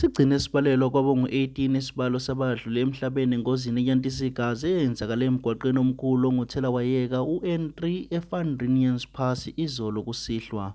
Sigcine sibalelwa kwabangu-18 isibalo sabadlule emhlabeni engozini eyantisa igazi eyenzakale emgwaqeni omkhulu onguthelawayeka u-N3 e-Van Rinians Pass izolo kusihlwa.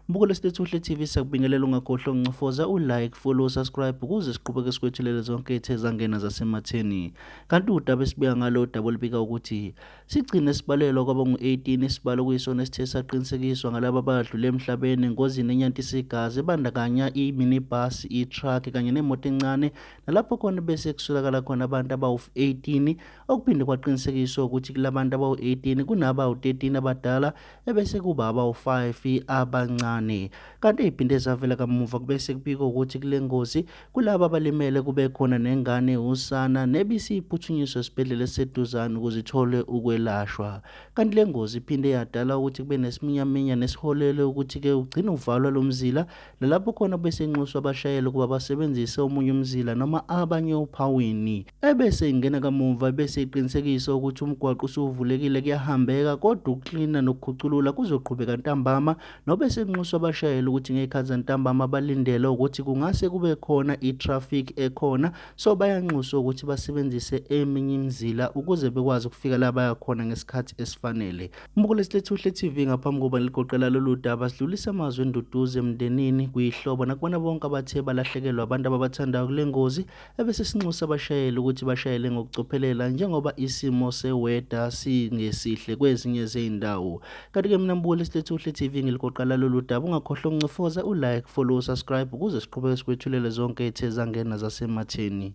Mbukelo Stethuhle TV sakubingelela ungakhohlwa uncofoza u-like, follow, subscribe ukuze siqhubeke sikwethulele zonke ethe zangena zasematheni. Kanti udaba esibika ngalo udaba olubika ukuthi sigcine sibalelwa kwaba ngu-18 isibalo kuyisona esithe saqinisekiswa ngalaba abadlule emhlabeni engozini enyantisa igazi ebandakanya i-minibus, i-truck kanye nemoto encane nalapho khona bese kusolakala khona abantu abawu-18 okuphinde kwaqinisekiswa ukuthi kulabantu abawu-18 kunabawu-13 abadala ebese kuba abawu-5 abancane kanti eziphinde zavela kamuva kubese kubikwa ukuthi kule ngozi kulaba abalimele kube khona nengane usana nebisiyiphuthunyiswa esibhedlela eseduzane ukuze ithole ukwelashwa kanti le ngozi iphinde yadala ukuthi kube nesiminyaminya nesiholele ukuthi-ke ugcine uvalwa lo mzila nalapho khona besenxuswa abashayeli ukuba basebenzise omunye umzila noma abanye ophawini Ebese ingena kamumva ebese iqinisekisa ukuthi umgwaqo usuvulekile kuyahambeka kodwa ukuklina nokukhuculula kuzoqhubeka ntambama nobe senxusa abashayeli ukuthi ngey'khathi zantambama balindele ukuthi kungase kube khona i-traffic ekhona so bayanxuswa ukuthi basebenzise eminye imizila ukuze bekwazi ukufika la baya khona ngesikhathi esifanele. Mbukule Silethuhle TV ngaphambi kokuba ligoqela lolu daba sidlulisa amazwi enduduzo emndenini kuyihlobo nakubona bonke abathe balahlekelwa abantu ababathandayo kule ngozi ebese sinxusa abashayeli ukuthi bashayele ngokucophelela njengoba isimo seweda singesihle kwezinye zey'ndawo kanti-ke mina mbukeli silethu uhle tv ngilikoqala lolu daba ungakhohlwa ukuncofoza u-like follow subscribe ukuze siqhubeke sikwethulele zonke ethe zangena zasematheni